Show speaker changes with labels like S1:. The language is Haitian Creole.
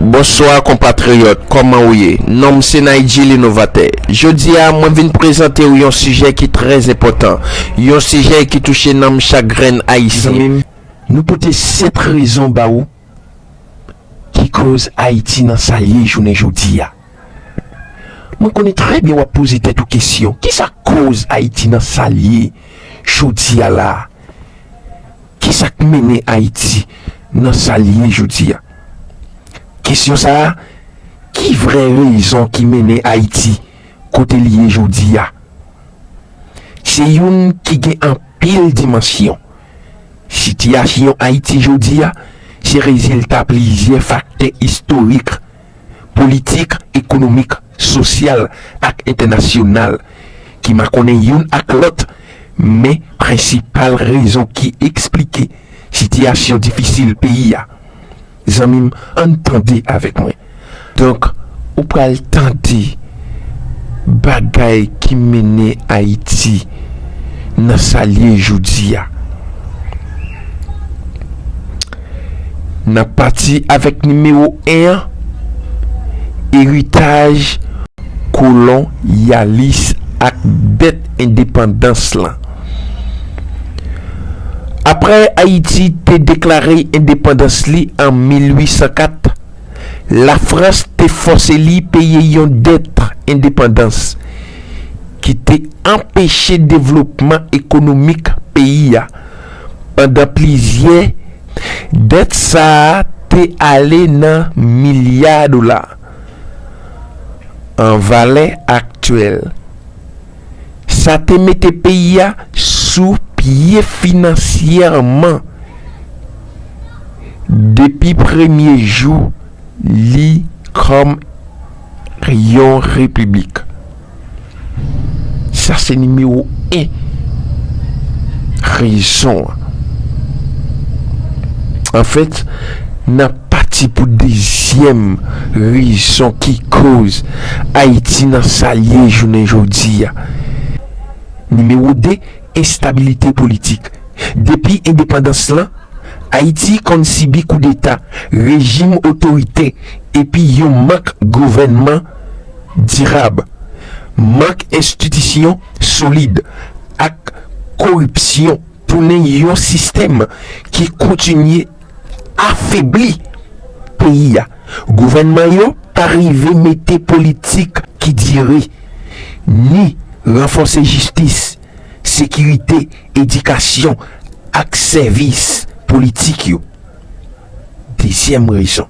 S1: Bonswa konpatriyòt, kòman ou ye? Non m se Naydjie L'Innovateur. Jodi a, mwen vin prezante ou yon sijè ki trè enpòtan, yon sijè ki touche nanm chak grenn Ayisyen. Zanmi m, nou pote 7 rezon ba ou ki koz Ayiti nan sa l ye jounen jodi a. Mwen konnen trè byen wap poze tèt ou kesyon kisa koz ayiti nan sal ye jodia la kisak mennen ayiti nan sal ye jodia kesyon sa ki vrè rezon ki mennen ayiti kote li ye jodia se youn ki gen anpil dimansyon sitiyasyon ayiti jodia se rezilta plizyè faktè istorik politik, ekonomik, sosyal ak entènasyonal ki makonnen youn ak lòt, men prensipal rezon ki esplike sitiyasyon difisil peyi a, zanmi m, ann tande avèk mwen. Donk, ou pral tande bagay ki mennen Ayiti nan sa l ye jodi a. Nap pati avèk nimewo 1 an, eritaj kolon yalis ak dèt endepandans lan. Aprè Ayiti te deklare endepandans li an 1804, Lafrans te fòse li peye yon dèt endepandans ki te anpeche devlopman ekonomik peyi a. Pandan plizyè, dèt sa a te ale nan milya dola an valè aktyèl. Sa te mete peyi a sou pye finansyèman depi premye jou li kòm yon repiblik. Sa se nimewo 1 rezon an. Anfèt, n ap pati pou dezyèm rezon ki koz Ayiti nan sa l ye jounen jodi a. Nimewo 2, enstabilite politik. Depi endepandans lan, Ayiti konn sibi koudeta, rejim otoritè epi yon mank gouvènman. dirab, mank enstitisyon solid ak koripsyon tounen yon sistèm ki kontinye afebli peyi a. Gouvènman yo pa rive mete politik ki dire, ni ranfòse jistis, sekirite, edikasyon ak sèvis politik yo. Dezyèm rezon.